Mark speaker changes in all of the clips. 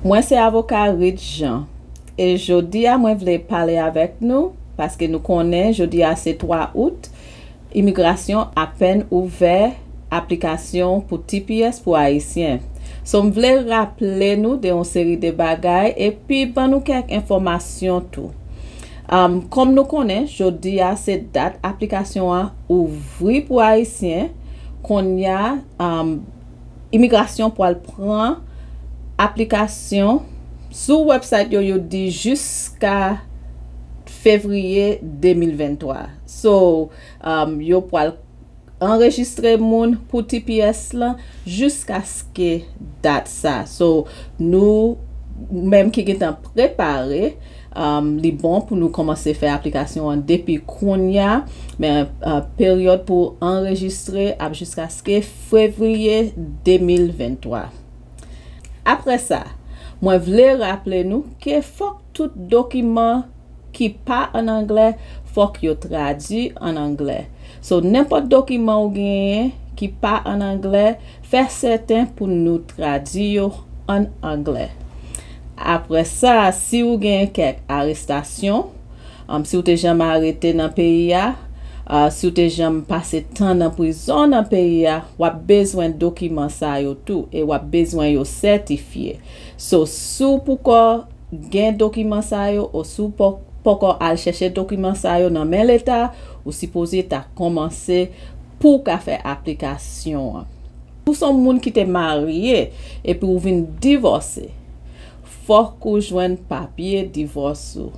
Speaker 1: Mwen se avoka Rit Jean e jodi a mwen vle pale avèk nou paske nou konnen jodi a se 3 out imigrasyon apèn ouvè aplikasyon pou tps pou ayisyen so m vle raple nou de yon seri de bagay epi ban nou kèk enfòmasyon tou kòm nou konnen jodi a se dat aplikasyon an ouvri pou ayisyen konnya imigrasyon pwal pran aplikasyon sou website yo yo di jiska fevriye 2023 so yo pwal anrejistre moun pou tps lan jiskaske dat sa so nou menm ki gentan prepare li bon pou nou komanse fè aplikasyon an depi kounya men peryòd pou anrejistre ap jiskaske. Fevriye 2023. Apre sa, mwen vle raple nou ke fòk tout dokiman ki pa an anglè fòk yo tradui an anglè. So nenpòt dokiman ou genyen ki pa an anglè fè sèten pou nou tradui yo an anglè. Apre sa si ou gen kèk arestasyon, Si w te janm arete nan peyi a, si w te janm pase tan nan prizon nan peyi a, w ap bezwen dokiman sa yo tou e w ap bezwen yo sètifye. So, si w poukò gen dokiman sa yo o si w pòkò al chèche dokiman sa yo nan men leta, ou sipoze ta kòmanse pou w ka fè aplikasyon an. Si w se yon moun ki te marye epi ou vin divòse, Fòk ou jwenn papye divòs ou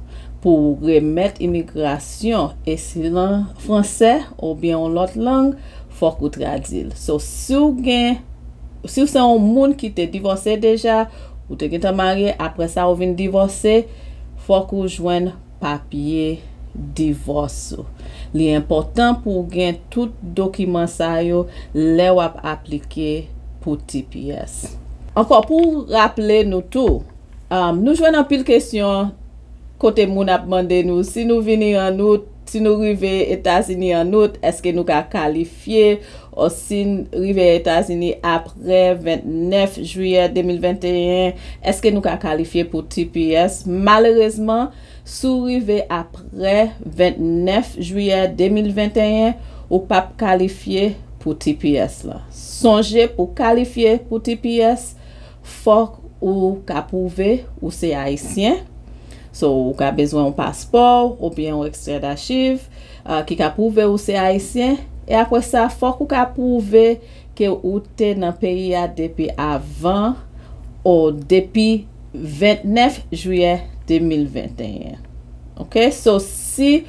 Speaker 1: pou ou remèt imigrasyon e si l an fransè oubyen yon lòt lang fòk ou tradi l. So si w gen si w se yon moun ki te divòse deja ou te gentan marye aprè sa ou vin divòse fòk ou jwenn papye divòs ou. Li enpòtan pou w gen tout dokiman sa yo lè w ap aplike pou tps. Ankò pou raple nou tou, nou jwenn anpil kesyon kote moun ap mande nou si nou vini an out, si nou rive Etazini an out, èske nou ka kalifye. Fye Osin rive Etazini apre 29 jiyè 2021, èske nou ka kalifye pou tps? Malerezman, si w rive apre 29 jiyè 2021, ou pa p kalifye pou tps la. Sonje pou w kalifye pou tps, Fòk ou ka pwouve ou se Ayisyen. So, ou ka bezwen yon paspò oubyen yon ekstrè dachiv ki ka pwouve ou se Ayisyen. E apre sa, fòk ou ka pwouve ke ou te nan peyi a depi avan o depi 29 jiyè 2021. Ok? So, si.